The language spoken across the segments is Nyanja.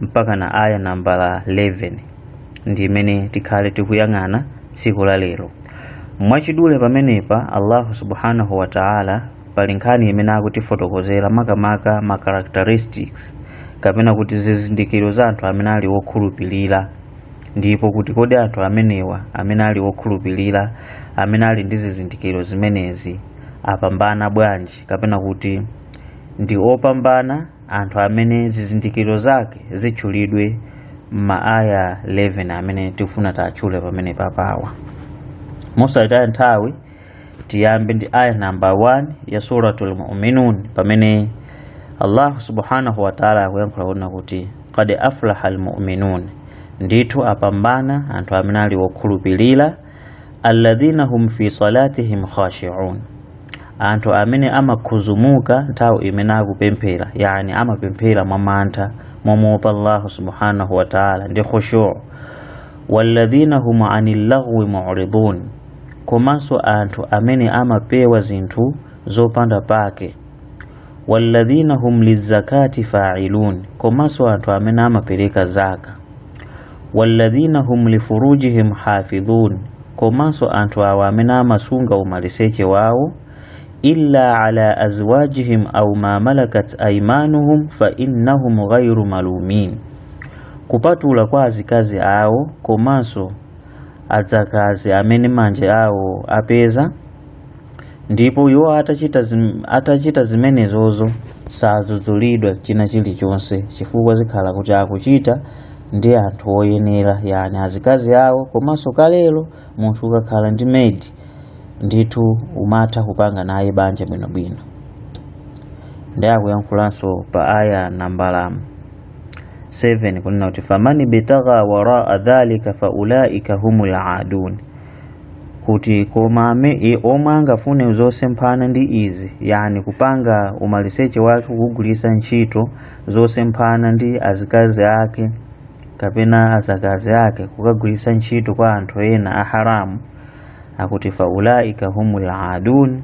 mpaka na aya nambala 11 ndi imene tikhale tikuyang'ana tsiku la lero mwachidule pamenepa allahu subhanahu wa taala pali nkhani imene akutifotokozera makamaka ma characteristics kapena kuti zizindikiro za anthu amene ali wokhulupirira ndipo kuti kodi anthu amenewa amene ali wokhulupirira amene ali ndi zizindikiro zimenezi apambana bwanji kapena kuti ndi opambana anthu amene zizindikiro zake zitchulidwe m'maaya 11 amene tifuna titchule pamene papawa mosataya nthawi tiyambe ndi aya namba 1 ya suratul muminun pamene allahu subhanahu wataala akuyankhula kunena kuti kad aflaha lmuminun ndithu apambana anthu amene ali wokhulupirira alladhina hum fi salatihim khashi'un anthu amene amakhuzumuka nthawi imene akupemphera yani amapemphera mwa mantha momuopa allahu subhanahu wa taala ndi khushu walladhina hum anil lagwi mu'ridun komanso anthu amene amapewa zinthu zopanda pake walladhina hum lizakati fa'ilun komanso anthu amene amapereka zaka walladhina hum lifurujihim hafidhun komanso anthu awo amene amasunga umaliseche wawo illa ala azwajihim aw ma malakat aymanuhum fa innahum ghayru malumin kupatula kwa azikazi awo komanso adzakazi amene manja awo apeza ndipo iwo atachita, zim, atachita zimenezozo sadzudzulidwa china chilichonse chifukwa zikhala kuti akuchita ndi anthu oyenera yani azikazi awo komanso kalelo munthu ukakhala ndi maid ndithu umatha kupanga naye banja bwinobwino ndi akuyankhulanso pa aya nambala 7 kunena kuti famani bitagha waraa dhalika faulaika humul adun kuti koma ame, e, omwe angafune zosemphana ndi izi yani kupanga umaliseche wake kugwirisa ntchito zosemphana ndi azikazi ake kapena azakazi ake kukagwirisa ntchito kwa anthu ena a haramu akuti faulaika humul adun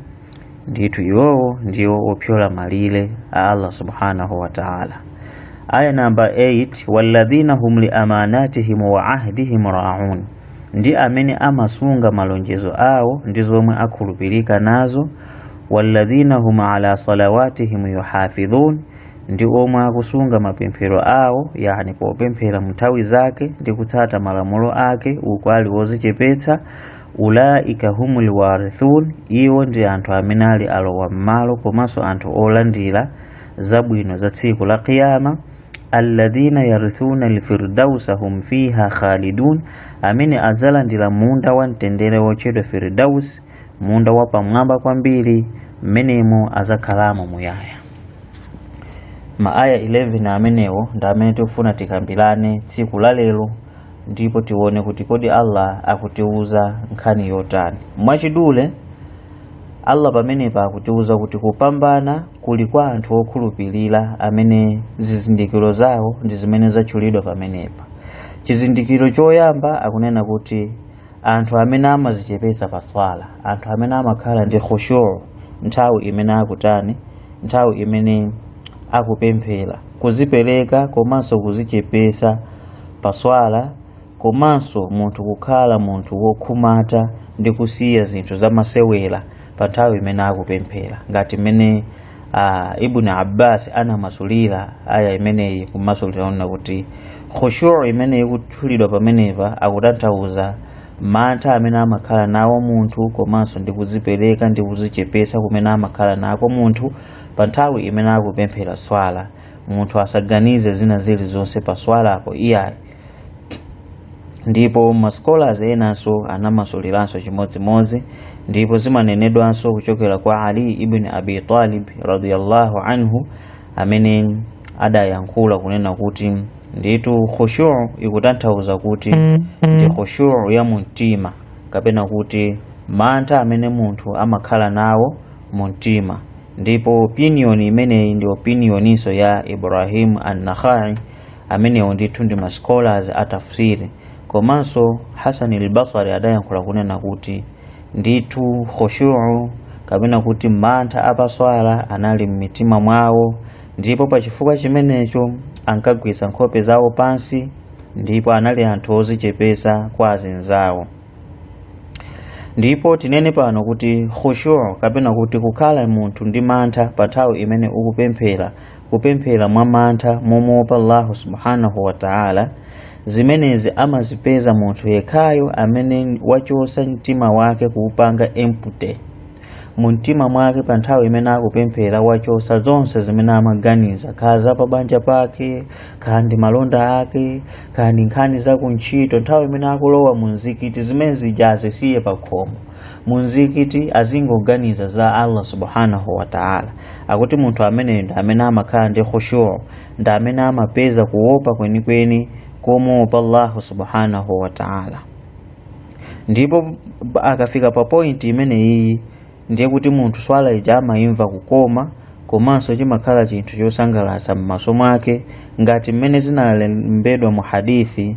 ndithu iwowo ndiwo opyola malire a allah subhanahu wa taala aya namba 8 walladhina hum liamanatihim wa ahdihim raun ndi amene amasunga malonjezo awo ndi zomwe akhulupirika nazo walladhina hum ala salawatihim yuhafidhun ndi omwe akusunga mapemphero awo yani popemphera mnthawi zake ndi kutsata malamulo ake uku ali wozichepetsa ulaika humul warithun iwo ndi anthu amene ali alowa m'malo komanso anthu olandira zabwino za tsiku la qiyama alladhina yarithuna alfirdausa hum fiha khalidun amene adzalandira munda wa mtendere wotchedwa firdaus munda wa pamwamba kwambiri mmenemo azakhalamo muyaya maaya 11 amenewo ndi amene tikufuna tikambirane tsiku la lero ndipo tione kuti kodi allah akutiuza nkhani yotani mwachidule allah pamenepa akutiuza kuti kupambana kuli kwa anthu okhulupirira amene zizindikiro zawo ndi zimene zatchulidwa pamenepa chizindikiro choyamba akunena kuti anthu amene amazichepesa pa swala anthu amene amakhala ndi khushu nthawi imene akutani nthawi imene akupemphera kuzipereka komanso kuzichepesa pa swala komanso munthu kukhala munthu wokhumata ndi kusiya zinthu zamasewera pa nthawi imene akupemphera ngati mmene ah, ibn abbas anamasulira aya imeneyi kumasulira kunena kuti khushu imene ikutchulidwa pamenepa akutanthauza mantha amene amakhala nawo munthu komanso ndi kuzipereka ndi kuzichepesa kumene amakhala nako munthu pa nthawi imene akupemphera swala munthu asaganize zina zilizonse pa swalapo iyayi ndipo ma scholars enanso anamasuliranso chimodzimodzi ndipo zimanenedwanso kuchokera kwa ali ibn abi talib radiyallahu anhu amene adayankhula kunena kuti ndithu khushu ikutanthauza kuti ndi khushu ya mumtima kapena kuti mantha amene munthu amakhala nawo mumtima ndipo opinion imeneyi ndi opinioninso ya ibrahim an-nakhai amenewo ndithu ndi ma scholars a tafsiri komanso hasani al-basri adayankhula kunena kuti ndithu khushu'u kapena kuti mantha apaswala anali m'mitima mwawo ndipo pa chifukwa chimenecho ankagwisa nkhope zawo pansi ndipo anali anthu ozichepesa kwa azinzawo ndipo tinene pano kuti khushu'u kapena kuti kukhala munthu ndi mantha pa nthawi imene ukupemphera kupemphera mwa mantha momuopa Allahu subhanahu wa ta'ala zimenezi amazipeza munthu yekhayo amene wachosa mtima wake kuupanga empty mu mtima mwake pa nthawi imene akupemphera wachosa zonse zimene amaganiza kaya za pa banja pake kaya ndi malonda ake kaya ndi nkhani za kuntchito nthawi imene akulowa mu mzikiti zimene zija azisiye pa khomo mumzikiti azingoganiza za allah subhanahu wataala akuti munthu amene ndi amene amakhala ndi khushuu ndi amene amapeza kuopa kwenikweni komuopa allahu subhanahu wataala ndipo akafika pa pointi imene iyi ndiye kuti munthu swala ija amayimva kukoma komanso chimakhala chinthu chosangalatsa m'maso mwake ngati mmene zinalembedwa mu hadithi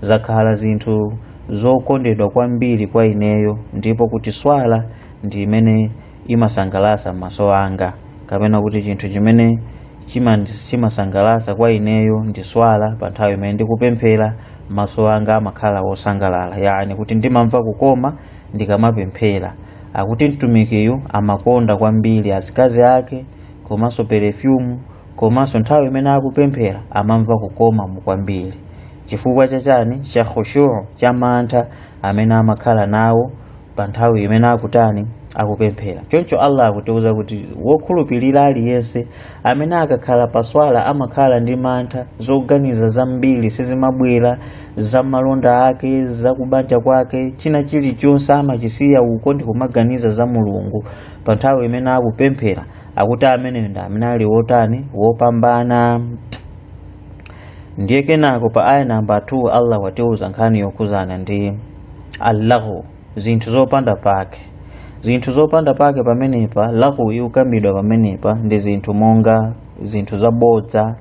zakhala zinthu zokondedwa kwambiri kwa ineyo ndipo kuti swala ndi imene imasangalatsa maso anga kapena kuti chinthu chimene chimasangalatsa kwa ineyo ndi swala pa nthawi imene ndikupemphera maso anga amakhala wosangalala yani kuti ndimamva kukoma ndikamapemphera akuti mtumikiyu amakonda kwambiri azikazi ake komanso perefyumu komanso nthawi imene akupemphera amamva kukomamo kwambiri chifukwa chachani cha khushuu cha mantha amene amakhala nawo pa nthawi imene akutani akupemphera choncho allah akutiuza kuti wokhulupirira aliyense amene akakhala pa swala amakhala ndi mantha zoganiza zambiri sizimabwera za malonda ake za kubanja kwake china chilichonse amachisiya uko ndi kumaganiza za mulungu pa nthawi imene akupemphera akuti amene ndi amene ali wotani wopambana ndiye kenako pa aya namba 2 allah watiuza nkhani yokhudzana ndi allaghwu zinthu zopanda pake zinthu zopanda pake pamenepa laghwu ikukambidwa pamenepa ndi zinthu monga zinthu zabodza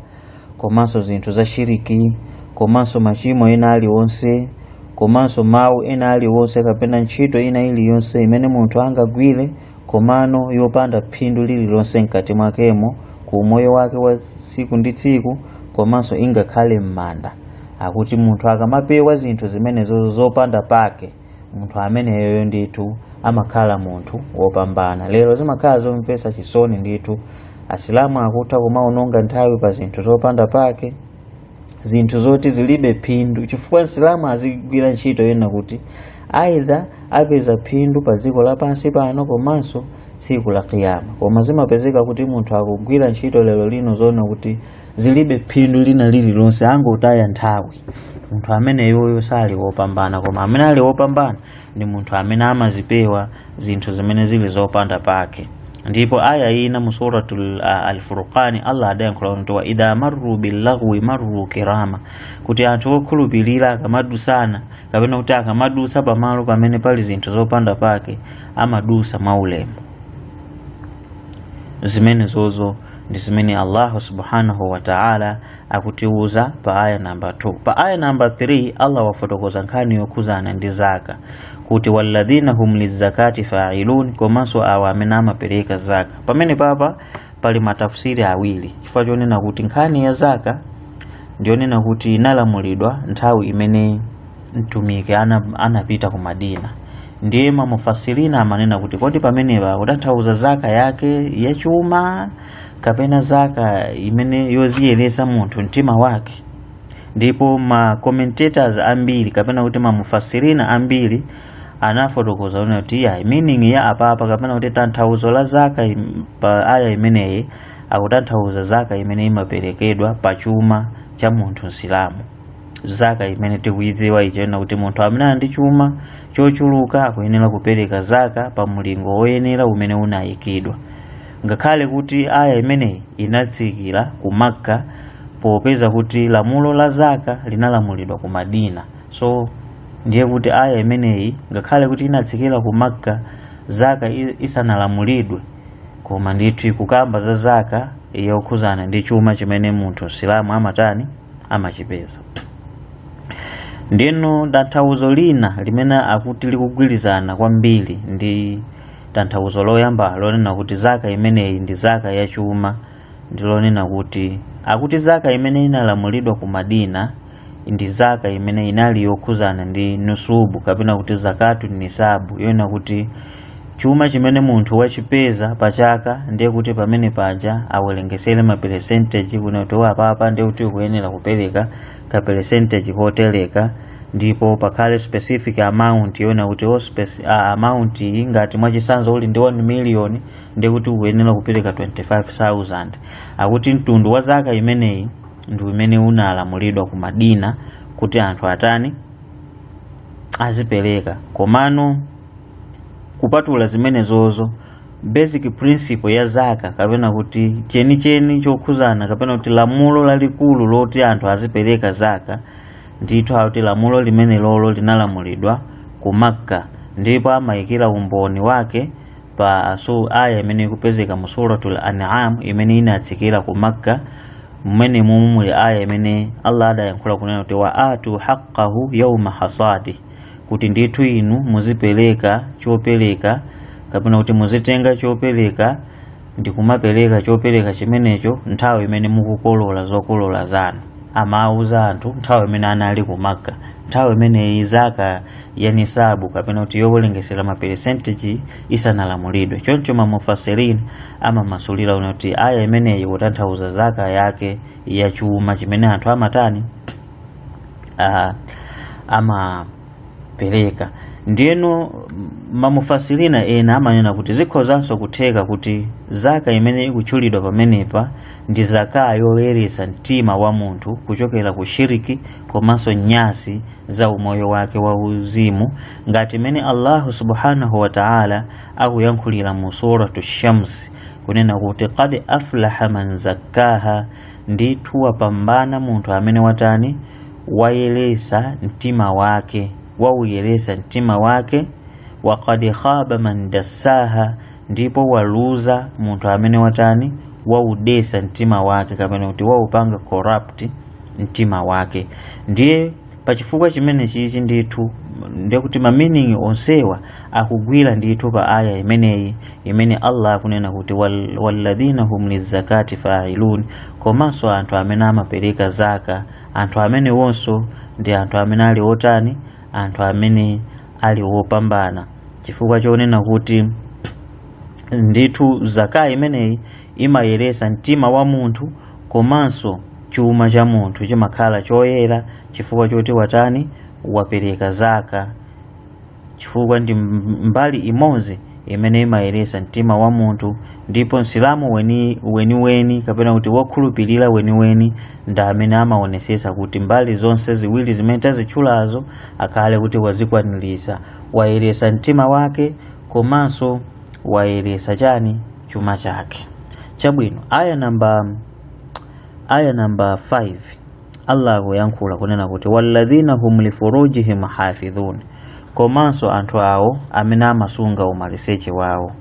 komanso zinthu za shiriki komanso machimo ena aliwonse komanso mawu ena aliwonse kapena ntchito ina iliyonse imene munthu angagwire komano yopanda phindu lililonse mkati mwakemo ku umoyo wake wa tsiku ndi tsiku komanso ingakhale m'manda akuti munthu akamapewa zinthu zimenezo zopanda pake munthu ameneyoyo ndithu amakhala munthu wopambana lero zimakhala zomvetsa chisoni ndithu asilamu akutha kumaononga nthawi pa zinthu zopanda pake zinthu zoti zilibe phindu chifukwa msilamu azigwira ntchito yoona kuti aidha apeza phindu pa dziko lapansi pano komanso tsiku la kiyama koma zimapezeka kuti munthu akugwira ntchito lero lino zoona kuti zilibe phindu lina lililonse angotaya nthawi munthu ameneyoyo sali wopambana koma amene ali wopambana ndi munthu amene amazipewa zinthu zimene zili zopanda pake ndipo aya ina mu suratul ah, alfurqani allah adayankhula kuti wa idha marru billaghwi marru kirama kuti anthu okhulupirira akamadusana kapena kuti akamadusa pamalo pamene pali zinthu zopanda pake amadusa mwaulemu zimenezozo ndi zimene allahu subhanahu wa taala akutiuza pa aya namba 2 pa aya namba 3 allah wafotokoza nkhani yokhudzana ndi zaka kuti walladhina hum lizakati failun komanso awa amene amapereka zaka pamene papa pali matafsiri awiri chifukwa chonena kuti nkhani ya zaka ndiyonena kuti inalamulidwa nthawi imene mtumiki ana, anapita ku madina ndiye mamufasirina amanena kuti kodi pamenepa akutanthauza zaka yake yachuma kapena zaka imene yoziyeretsa munthu mtima wake ndipo ma commentators ambiri kapena kuti mamufasirina ambiri anafotokoza kunena kuti iya meaning ya apapa kapena kuti tanthauzo la zaka im- pa aya imeneyi akutanthauza zaka imene imaperekedwa pa chuma cha munthu msilamu zaka imene tikuyidziwa ija yonena kuti munthu amene ali ndi chuma chochuluka akuyenera kupereka zaka pa mulingo woyenera umene unayikidwa ngakhale kuti aya imeneyi inatsikira ku makka popeza kuti lamulo la zaka linalamulidwa ku madina so ndiye kuti aya imeneyi ngakhale kuti inatsikira ku makka zaka i- isanalamulidwe koma ndithu ikukamba za zaka yokhudzana ndi chuma chimene munthu msilamu amatani amachipeza ndiyeno tanthauzo lina limene akuti likugwirizana kwambiri ndi tanthauzo loyamba lonena kuti zaka imeneyi ndi zaka ya chuma ndi lonena kuti akuti zaka imene inalamulidwa ku madina ndi zaka imene inali yokhudzana ndi nusubu kapena kuti zakatu nisabu yonena kuti chuma chimene munthu wachipeza pa chaka ndiye kuti pamene paja awerengetsere maperesentegi kunena kuti apapa ndiye kuti ukuyenera kupereka ka percentage kotereka ndipo pakhale specific amount yonena kuti o speci- a- amount iyi ngati mwachitsanzo uli ndi 1 million ndiye kuti ukuyenera kupereka 25000 akuti mtundu wa zaka imeneyi ndi umene unalamulidwa ku madina kuti anthu atani azipereka komano kupatula zimenezozo basic principle ya zaka kapena kuti chenicheni chokhudzana kapena kuti lamulo lalikulu loti anthu azipereka zaka ndithu akuti lamulo limene lolo linalamulidwa ku makka ndipo amayikira umboni wake pa su aya imene ikupezeka mu suratul an'am imene inatsikira ku makka mmene mumu muli aya imene allah adayankhula kunena kuti wa atu haqqahu yawma hasadi kuti ndithu inu muzipereka chopereka kapena kuti muzitenga chopereka ndi kumapereka chopereka chimenecho nthawi imene mukukolola zokolola zanu amawuza anthu nthawi imene anali ku makka nthawi imeneyi zaka ya nisabu kapena kuti yowerengesera maperesentiji isanalamulidwe choncho mamufasirin amamasulira kuti aya imeneyi kutanthauza zaka yake ya chuma chimene anthu amatani uh, amapereka ndiyeno mamufasirina ena amanena kuti zikhozanso kutheka kuti zaka imene ikutchulidwa pamenepa ndi zaka yoyeretsa mtima wa munthu kuchokera ku shiriki komanso nyasi za umoyo wake wa uzimu ngati imene allahu subhanahu wa taala akuyankhulira mu suratu shamsi kunena kuti qad aflaha man zakkaha ndithu wapambana munthu amene watani wayeretsa mtima wake wauyeretsa mtima wake wa qad khaba man dassaha ndipo waluza munthu amene watani waudetsa mtima wake kapena kuti waupanga corrupt mtima wake ndiye pa chifukwa chimene chichi ndithu ndiye kuti ma meaning onsewa akugwira ndithu pa aya imeneyi imene allah akunena kuti "Wal- walladhina hum lizakati failun komanso anthu amene amapereka zaka anthu amenewonso ndi anthu amene ali otani anthu amene ali wopambana chifukwa chonena kuti ndithu zaka imeneyi imayeretsa mtima wa munthu komanso chuma cha munthu chimakhala choyera chifukwa choti watani wapereka zaka chifukwa ndi mbali imodzi imene imayeretsa mtima wa munthu ndipo msilamu weni weniweni kapena kuti wokhulupirira weniweni ndi amene amaonetsetsa kuti mbali zonse ziwiri zimene tazitchulazo akhale kuti wazikwaniritsa wayeretsa mtima wake komanso wayeretsa chani chuma chake chabwino aya namba aya namba 5 Allah akuyankhula kunena kuti walladhina hum lifurujihim hafidhun komanso anthu awo amene amasunga umaliseche wawo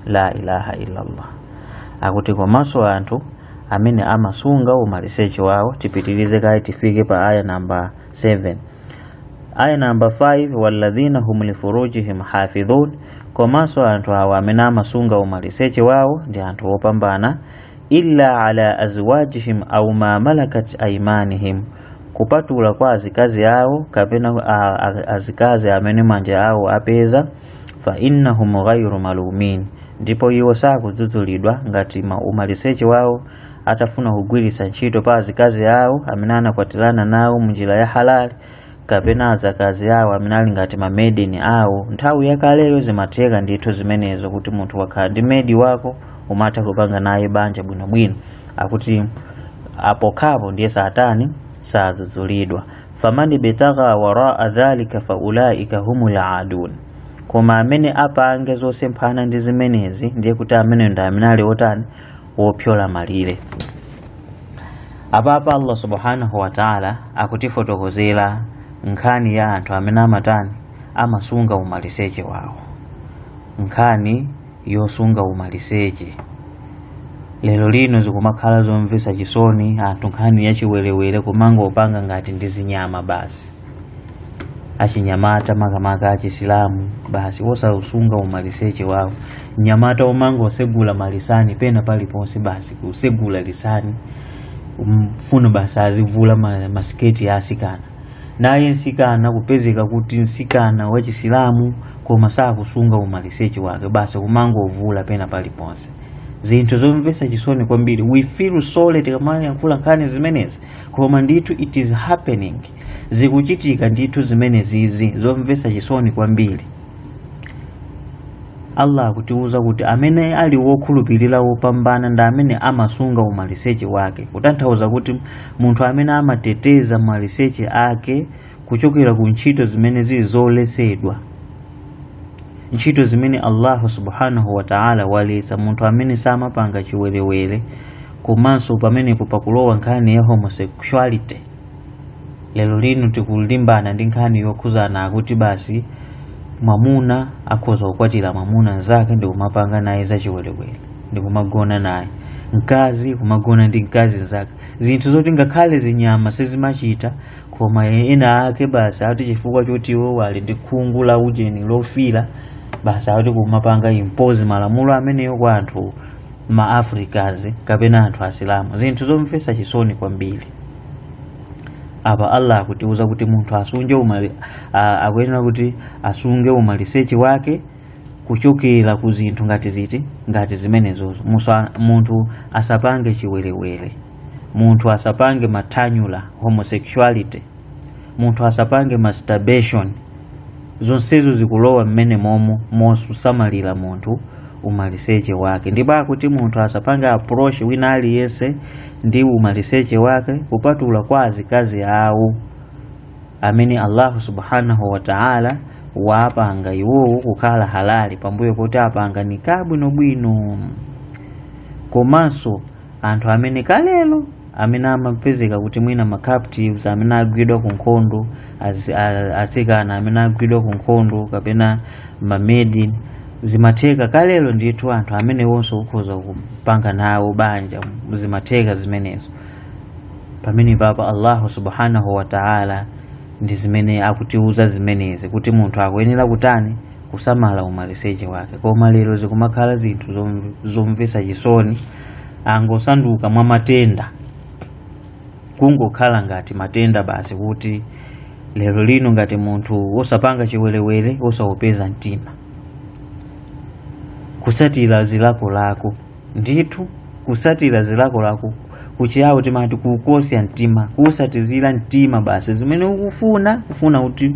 la ilaha illallah akuti komanso anthu amene amasunga umaliseche wawo tipitirize kaye tifike pa aya namba 7 aya namba 5 walladhina hum lifurujihim hafidhun komanso anthu awo amene amasunga umaliseche wawo ndi anthu opambana illa ala azwajihim au ma malakat aimanihim kupatula kwa azikazi awo kapena a- a- azikazi amene manja awo apeza fa innahum ghairu malumin ndipo iwo sakudzudzulidwa ngati ma- umaliseche wawo atafuna kugwiritsa ntchito pa azikazi awo amene anakwatirana nawo munjira ya halali kapena azakazi awo amene ali ngati mamedi awo nthawi yakaleyo zimatheka ndithu zimenezo kuti munthu wakhala ndi medi wako umatha kupanga naye banja bwinobwino akuti apokhapo ndiye satani sadzudzulidwa famani betagha waraa dhalika faulaika humul aadun koma amene apange zosemphana ndi zimenezi ndiye kuti amenewo ndi amene ali otani wopsyola malire apapa allah subhanahu wataala akutifotokozera nkhani ya anthu amene amatani amasunga umaliseche wawo nkhani yosunga umaliseche lero lino zikumakhala zomvesa chisoni anthu nkhani yachiwerewere kumangopanga ngati ndi zinyama basi achinyamata makamaka achisilamu basi osausunga umaliseche wawo mnyamata kumangosegula malisani pena paliponse basi kusegula lisani mfuno basi azivula ma- masiketi ya asikana naye nsikana kupezeka kuti nsikana wachisilamu koma sakusunga umaliseche wake basi kumangovula pena paliponse zinthu zomvesa chisoni kwambiri we feel sorry tikamayankhula nkhani zimenezi koma ndithu it is happening zikuchitika ndithu zimenezizi zomvesa chisoni kwambiri allah akutiuza kuti amene ali wokhulupirira wopambana ndi amene amasunga umaliseche wake kutanthauza kuti munthu amene amateteza maliseche ake kuchokera ku ntchito zimene zili zoletsedwa ntchito zimene allahu subhanahu wataala waletsa munthu amene samapanga chiwerewere komanso pamenepo pakulowa nkhani ya homosexuality lero lino tikulimbana ndi nkhani yokhuzana akuti basi mwamuna akhoza kukwatira mwamuna mzake ndi kumapanga naye zachiwerewere ndi kumagona naye mkazi kumagona ndi mkazi mzake zinthu zoti ngakhale zinyama sizimachita koma enaake basi ati chifukwa choti iwo ali ndi khungu la ujeni lofira basi ati kumapanga impose malamulo ameneyo kwa anthu ma africans kapena anthu asilamu zinthu zomvesa chisoni kwambiri apa allah akutiuza kuti munthu asunge umali a- akuyenera kuti asunge umaliseche wake kuchokera ku zinthu ngati ziti ngati zimenezozo musa- munthu asapange chiwerewere munthu asapange mathanyula homosexuality munthu asapange masturbation zonsezo zikulowa mmenemomo mosamalira munthu umaliseche wake ndipo akuti munthu asapange approach wina aliyense ndi umaliseche wake kupatula kwa azikazi awo amene allahu subhanahu wa taala wapanga iwowo kukhala halali pambuyo kuti apanga nikah bwinobwino komanso anthu amene kalelo amene amapezeka kuti mwina ma captives amene agwidwa ku nkhondo azi- a- atsikana amene agwidwa ku nkhondo kapena mamedi zimatheka kalelo ndithu anthu amenewonso ukhoza kupanga nawo banja zimatheka zimenezo pamenepapa allahu subhanahu wa taala ndi zimene akutiuza zimenezi kuti munthu akuyenera kutani kusamala umaliseche wake koma lero zikumakhala zinthu zom- zomvetsa chisoni angosanduka mwa matenda kungokhala ngati matenda basi kuti lero lino ngati munthu wosapanga chiwerewere wosaupeza mtima kutsatira zilakolako ndithu kusatira zilakolako kuchiyawo timati kukosya mtima kusatizira mtima basi zimene ukufuna ukufuna kuti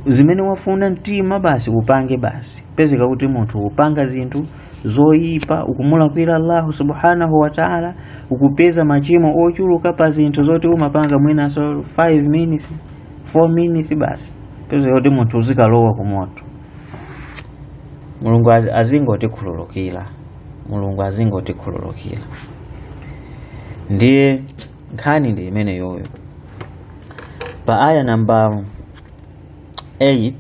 zimene wafuna mtima basi upange basi pezeka kuti munthu upanga zinthu zoyipa ukumulakwira allahu subhanahu wa taala ukupeza machimo ochuluka pa zinthu zoti umapanga mwinaso 5 minutes 4 minutes basi pezeka kuti munthu uzikalowa ku moto mulungu az- azingotikhululukira mulungu azingotikhululukira ndiye nkhani ndi imeneyoyo pa aya namba 8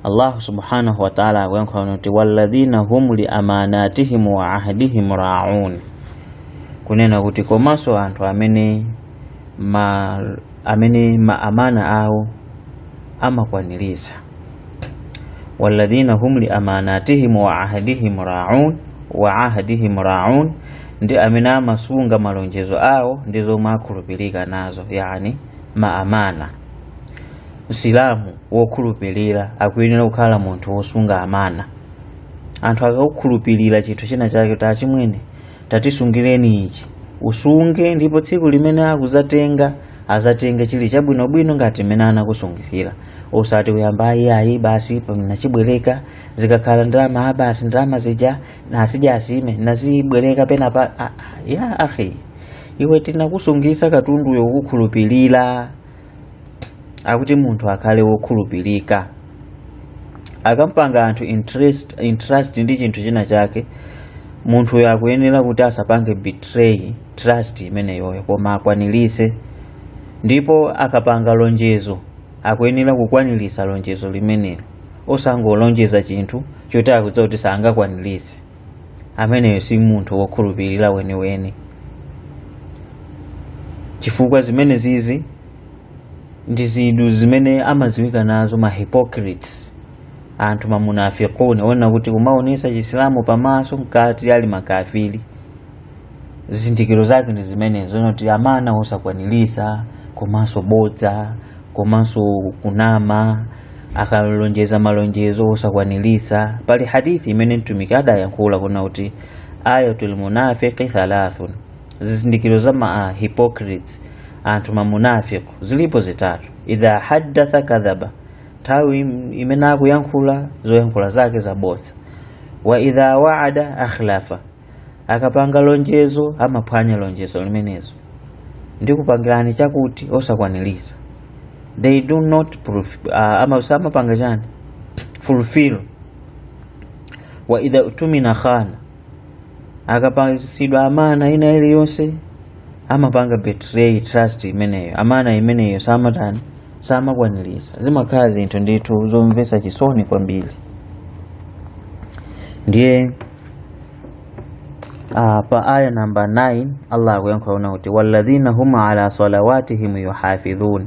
allahu subhanahu wataala akuyankhula kuti walladhina hum li amanatihim wa ahdihim raun kunena kuti komanso anthu amene ma amene ma amana awo amakwaniritsa walladhina hum li amanatihim wa ahdihim raun wa ahdihim raun ndi amene amasunga malonjezo awo ndi zomwe akhulupirika nazo yani maamana msilamu wokhulupirira akuyenera kukhala munthu wosunga amana anthu akakukhulupirira chinthu china chake tachimwene tatisungireni ichi usunge ndipo tsiku limene akuzatenga azatenge chili chabwinobwino ngati mmene anakusungitsira osati uyamba ayi iyayi basi pamene nachibwereka zikakhala ndalama a basi ndalama zija nasija asime nazibwereka pena pa ah, ah, ya akhi iwe tinakusungitsa katunduyo pokukhulupirira akuti munthu akhale wokhulupirika akampanga anthu entrust, entrust ndi chinthu china chake munthuyo akuyenera kuti asapange betray trust imeneyoyo koma akwaniritse ndipo akapanga lonjezo akuyenera kukwaniritsa lonjezo limenelo osangolonjeza chinthu choti akudziwa kuti sangakwaniritse ameneyo si munthu wokhulupirira weniweni chifukwa zimenezizi ndi zinthu zimene amadziwika nazo ma hypocrites anthu mamunafikuni kunena kuti kumaonesa chisilamu pamaso mkati ali makafiri zizindikiro zake ndi zimenezo zoti amana osakwanilisa komanso bodza komanso kunama akalonjeza malonjezo osakwanilisa pali hadithi imene mtumiki adayankhula kunena kuti ayatul munafiqi thalathun zizindikiro za ma hypocrites anthu mamunafiq zilipo zitatu idha haddatha kadhaba nthawi im- imene akuyankhula zoyankhula zake zabodza wa idha waada akhlafa akapanga lonjezo amaphwanya lonjezo limenezo ndi kupangirani chakuti osakwaniriza they do not ful, uh, ama, samapanga chani fulfill wa idha utumina khana akapasidwa amana ina iliyonse amapanga betray trust imeneyo amana imeneyo samatani samakwanirisa zimakhala zinthu ndithu zomvesa chisoni kwambiri ndiye uh, pa aya namba 9 allah akuyankhula kunena kuti walladhina hum ala salawatihim yuhafidhun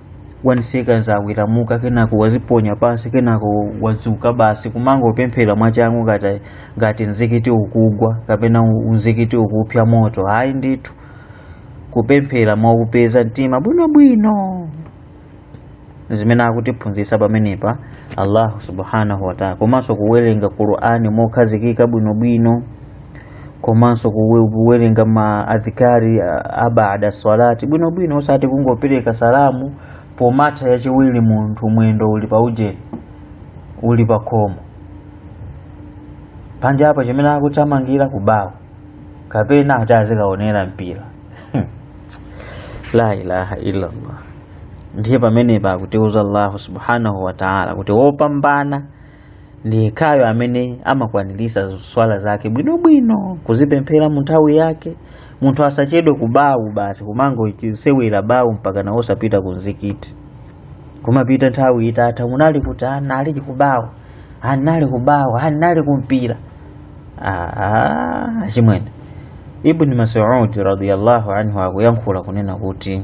1 second waweramuka kenako waziponya pansi kenako wadzuka basi kumangopemphera mwachangu ngati ngati mzikiti ukugwa kapena u- mzikiti ukupya moto ayi ndithu kupemphera mwakupeza mtima bwinobwino zimene akutiphunzitsa pamenepa allahu subhanahu wataala komanso kuwerenga qur'ani mokhazikika bwinobwino komanso kuwerenga ma adhikari abada salati bwinobwino osati kungopereka salamu pomata yachiwiri munthu mwendo uli pa ujeni uli pa khomo panja apa chimene akuthamangira kubawo kapena ati azikaonera mpira la ilaha illallah ndiye pamenepa akutiuza allahu subhanahu wataala kuti wopambana ndi yekhayo amene amakwanirisa swala zake bwinobwino kuzipemphera mu nthawi yake munthu asachedwe kubawu basi kumangoisewera bawu mpaka nayo osapita ku mzikiti kumapita nthawi itatha munali kuti ati anali kubawu anali kubawu anali kumpira achimwene ibni masudi radiallahu anhu akuyankhula kunena kuti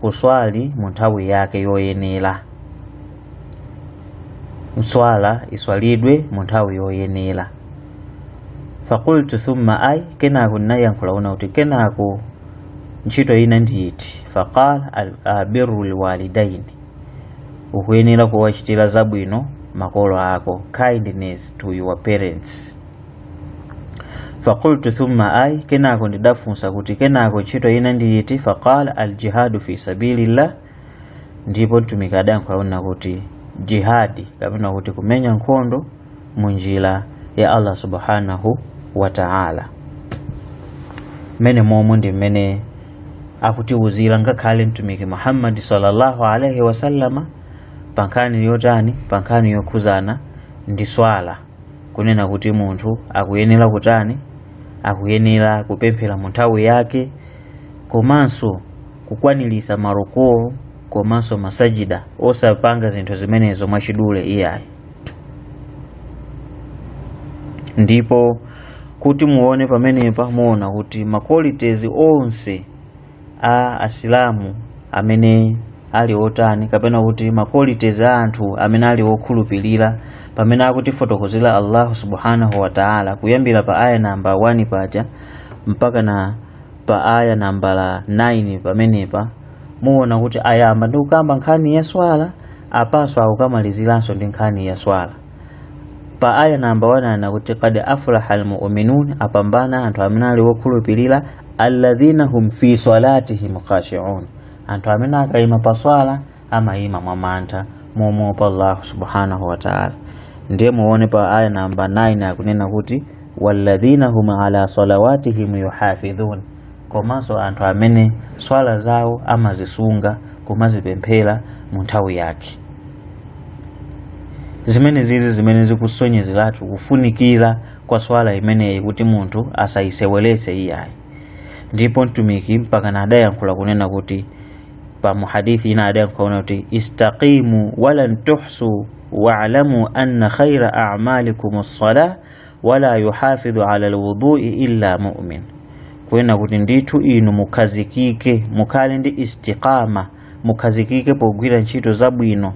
kuswali mu nthawi yake yoyenera swala iswalidwe mu nthawi yoyenera fakultu thumma ay kenako ndinayankhula kunena kuti kenako ntchito ina ndiyiti faqala birrul walidaini ukuyenera kuwachitira zabwino makolo ako kindness to your parents faqultu thumma ai kenako ndidafunsa kuti kenako ntchito ina ndi iti faqala aljihadu fi sabilillah ndipo mtumiki adayankhula kunena kuti jihadi kapena kuti kumenya nkhondo mu njira ya allah subhanahu wa ta'ala mmenemomo ndi mmene akutiwuzira ngakhale mtumiki muhammadi sallallahu alaihi wasallama pa nkhani yotani pa nkhani yokhudzana ndi swala kunena kuti munthu akuyenera kutani akuyenera kupemphera mu nthawi yake komanso kukwaniritsa marukuu komanso masajida osapanga zinthu zimenezo mwachidule iyayi ndipo kuti muone pamenepa muwona kuti ma qualities onse a asilamu amene ali otani kapena kuti ma qualities a anthu amene ali okhulupirira pamene akutifotokozera allahu subhanahu wa taala kuyambira pa aya nambala 1 paja mpaka na pa aya nambala 9 pamenepa muona kuti ayamba ndi kukamba nkhani ya swala apanso akukamaliziranso ndi nkhani ya swala pa aya namba 1 anena kuti qad aflaha almu'minun apambana anthu amene ali wokhulupirira alladhina hum fi salatihim khashi'un anthu amene akayima pa swala amayima mwa mantha momuopa Allah subhanahu wa ta'ala ndiye muone pa aya namba 9 akunena kuti walladhina hum ala salawatihim yuhafidhun komanso anthu amene swala zawo amazisunga kumazipemphera mu nthawi yake zimene zizi zimene zikusonyezeratu kufunikira kwa swala imeneyi kuti munthu asayiseweretse iyayi ndipo mtumiki mpaka na adayankhula kunena kuti pa muhadithi ina adayankhula kunena kuti istaqimu walan tuhsu waalamu anna khaira amalikum ssala wala yuhafidhu ala lwudui illa mumin kunena kuti ndithu inu mukhazikike mukhale ndi istiqama mukhazikike pogwira ntchito zabwino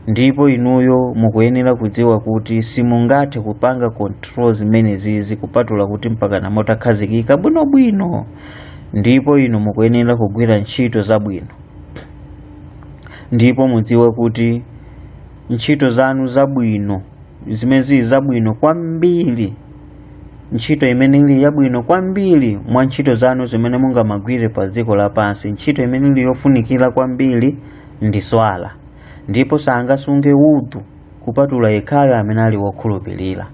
ndipo inuyo mukuyenera kudziwa kuti simungathe kupanga control zimene zizi kupatula kuti mpakana mutakhazikika bwinobwino ndipo inu mukuyenera kugwira ntchito zabwino ndipo mudziwe kuti ntchito zanu zabwino zimene zili zabwino kwambiri ntchito imene ili yabwino kwambiri mwa ntchito zanu zimene mungamagwire pa dziko lapansi ntchito imene ili yofunikira kwambiri ndi swala ndipo sangasunge udhu kupatula yekhayo amene ali wokhulupirira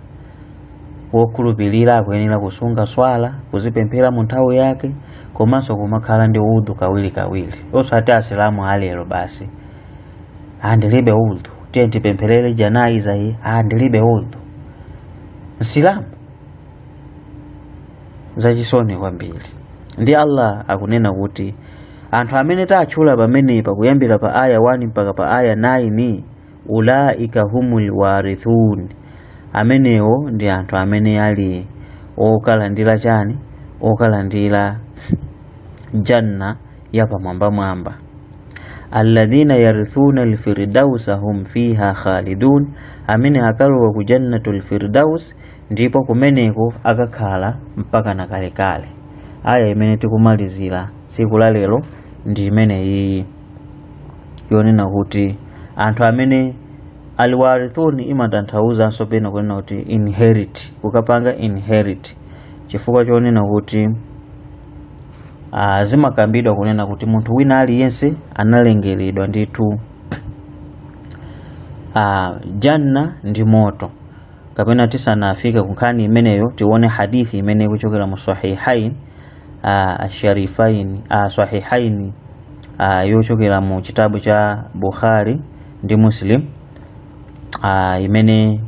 wokhulupirira akuyenera kusunga swala kuzipemphera mu nthawi yake komanso kumakhala ndi udhu kawirikawiri osati asilamu alero basi andilibe udhu tiye tipempherere janaiza iyi andilibe udhu msilamu zachisoni kwambiri ndiye allah akunena kuti anthu amene tatchula pamenepa kuyambira pa aya 1 mpaka pa aya 9 ulaika humul warithun amenewo ndi anthu amene ali okalandira chani okalandira janna ya pamwamba mwamba alladhina yarithuna alfirdausa hum fiha khalidun amene akalowa ku jannatul firdaus ndipo kumeneko akakhala mpaka na kalekale aya imene tikumalizira tsiku la lero ndi imene iyi yonena kuti anthu amene alwarithuni imatanthauzanso pena kunena kuti inherit kukapanga inherit chifukwa chonena kuti Ah, zimakambidwa kunena kuti munthu wina aliyense analengeredwa ndithu ah, janna ndi moto kapena tisanafika ku nkhani imeneyo tione hadithi imene ikuchokera mu sahihain ah, asharifain ah, sahihain ah, yochokera mu chitabu cha bukhari ndi muslim ah, imene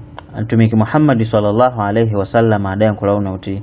mtumiki muhammadi sallallahu alaihi wasallam adayankhula kuti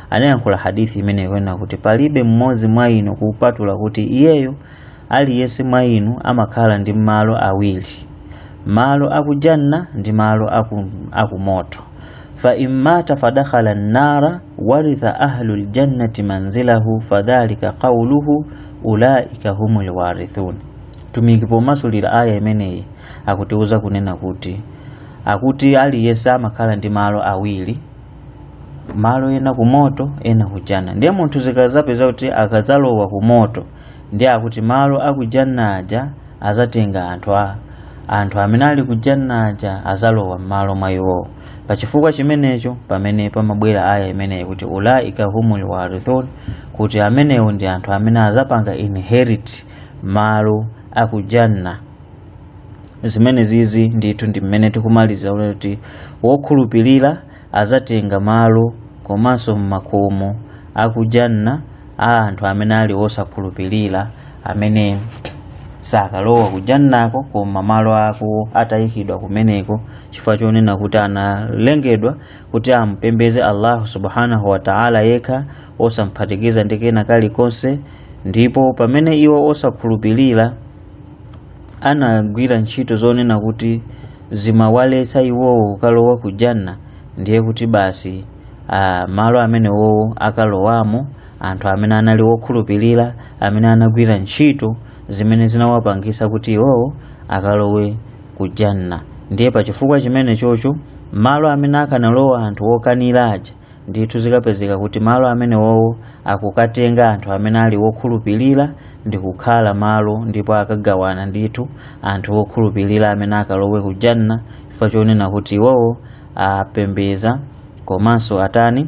anayankhula hadithi imene ikunena kuti palibe mmodzi mwa inu kupatula kuti iyeyo aliyense mwa inu amakhala ndi malo awiri malo akujanna ndi malo aku, akumoto fa immata fadakhala nnara waritha ahlu ljannati manzilahu fadhalika qauluhu ulaika humul warithun mtumiki pomasulira aya imeneyi akutiuza kunena kuti akuti aliyense amakhala ndi malo awiri malo ena ku moto ena ku janna ndiye munthu zikazapeza kuti akazalowa ku moto ndiye akuti malo a ku janna aja azatenga anthu a anthu amene ali ku janna aja azalowa m'malo mwa iwowo pa chifukwa chimenecho pamene pamabwera aya imeneyi kuti ulaika humul warithun kuti amenewo ndi anthu amene azapanga inherit malo a ku janna zimenezizi ndithu ndi mmene tikumalizira kuti wokhulupirira azatenga malo komanso m'makomo akujanna a anthu amene ali osakhulupirira amene sakalowa kujannako koma malo ako atayikidwa kumeneko chifukwa chonena kuti analengedwa kuti ampembeze allahu subhanahu wa taala yekha osamphatikiza ndi kena kalikonse ndipo pamene iwo osakhulupirira anagwira ntchito zonena kuti zimawaletsa iwowo kukalowa ku janna ndiye kuti basi ah, malo amenewowo akalowamo anthu amene anali wokhulupirira amene anagwira ntchito zimene zinawapangisa kuti iwowo akalowe ku janna ndiye pa chifukwa chimenechocho malo amene akanalowa anthu okanira aja ndithu zikapezeka kuti malo amenewowo akukatenga anthu amene ali wokhulupirira ndi kukhala malo ndipo akagawana ndithu anthu wokhulupirira amene akalowe ku janna chifukwa chonena kuti iwowo apembeza komanso atani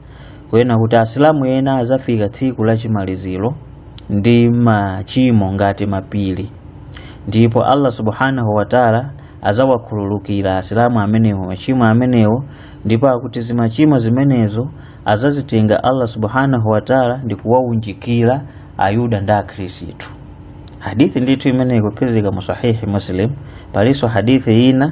kunena kuti asilamu ena azafika tsiku la chimaliziro ndi machimo ngati mapiri ndipo allah subhanahu wataala azawakhululukira asilamu amenewo machimo amenewo ndipo akuti zimachimo zimenezo azazitenga allah subhanahu wataala ndi kuwaunjikira ayuda ndi akhristu hadithi ndithu imene ikupezeka mu sahihi muslim palinso hadithi ina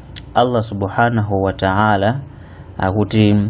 Allah subhanahu wa ta'ala akuti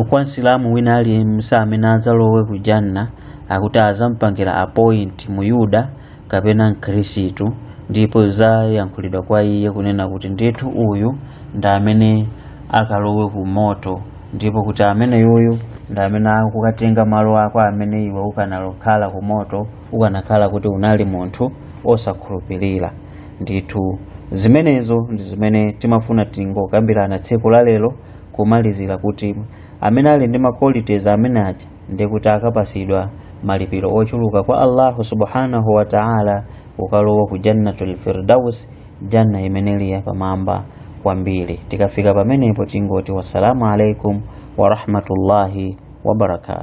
kwa msilamu wina aliyense amene adzalowe ku janna akuti azampangira appoint muyuda kapena mkhristu ndipo zizayankhulidwa kwa iye kunena kuti ndithu uyu ndi amene akalowe ku moto ndipo kuti ameneyuyu ndi amene akukatenga malo ako amene iwe ukanalokhala ku moto ukanakhala kuti unali munthu osakhulupirira ndithu zimenezo ndi zimene timafuna tingokambirana tsiku la lero kumalizira kuti amene ali ndi qualities amene aja ndi kuti akapasidwa malipiro ochuluka kwa allahu subhanahu wa taala kukalowa ku jannatul firdaus janna imene ili yapamwamba kwambiri tikafika pamenepo tingoti wassalamu alaikum warahmatullahi wabarakatu